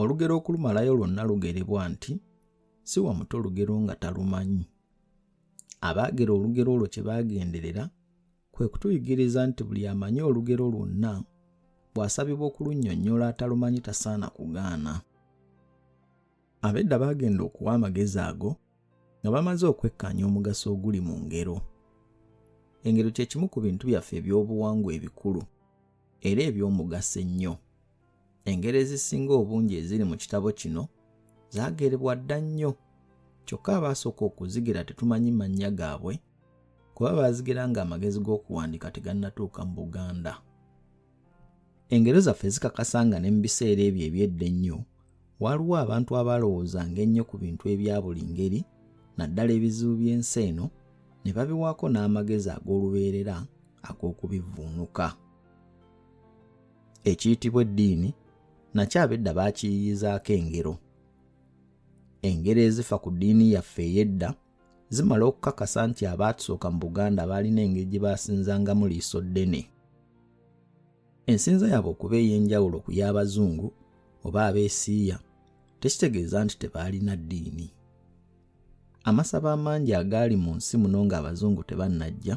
olugero okulumalayo lwonna lugerebwa nti si wa muto lugero nga talumanyi abaagera olugero olwo kye baagenderera kwe kutuyigiriza nti buli amanyi olugero lwonna bw'asabibwa okulunnyonnyola atalumanyi tasaana kugaana abedda baagenda okuwa amagezi ago nga bamaze okwekkaanya omugaso oguli mu ngero engero kye kimu ku bintu byaffe eby'obuwangwa ebikulu era eby'omugaso ennyo. Engero ezisinga obungi eziri mu kitabo kino zaagerebwa dda nnyo, kyokka abaasooka okuzigira tetumanyi mannya gaabwe kuba baazigira ng'amagezi g'okuwandiika tegannatuuka mu Buganda. Engero zaffe zikakasa nga ne mu biseera ebyo eby'edda ennyo Waliwo abantu abalowoozanga ennyo ku bintu ebya buli ngeri, naddala ebizibu by'ensi eno, ne babiwaako n'amagezi ag'olubeerera ag'okubivvuunuka. Ekiyitibwa eddiini nakyo abedda baakiyiyizaako engero. Engero ezifa ku ddiini yaffe ey'edda zimala okukakasa nti abaatusooka mu Buganda baalina engeri gye baasinzangamu liiso ddene. Ensinza yaabwe okuba ey'enjawulo ku y'Abazungu oba abeesiiya tekitegeeza nti tebaalina ddiini. Amasabo amangi agaali mu nsi muno ng'Abazungu tebannajja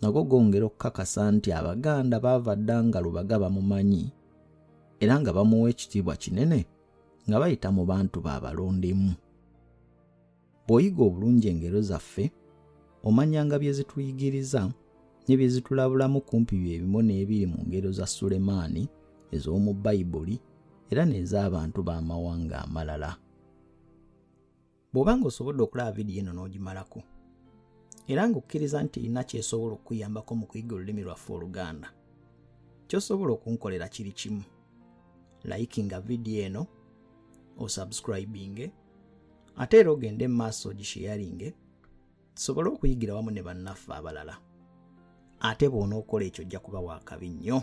nago gongera okukakasa nti Abaganda baava dda nga Lubaga bamumanyi era nga bamuwa ekitiibwa kinene nga bayita mu bantu baabalondemu. Bw'oyiga obulungi engero zaffe, omanyanga bye zituyigiriza ne bye zitulabulamu kumpi bye bimu n'ebiri mu ngero za Sulemaani ez'omu Bayibuli era n'ez'abantu b'amawanga amalala. Bw'oba ng'osobodde okulaba vidiyo eno n'ogimalako era ng'okkiriza nti erina ky'esobola okukuyambako mu kuyiga olulimi lwaffe Oluganda, ky'osobola okunkolera kiri kimu, layikinga vidiyo eno, osubscribinge, ate era ogende mu maaso ogisheyaringe tusobole okuyigira wamu ne bannaffe abalala ate bw'onookola ekyo ojja kuba waakabi nnyo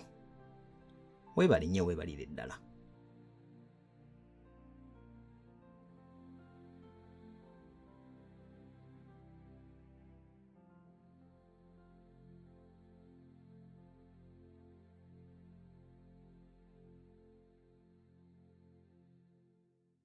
weebali nnyo weebalire ddala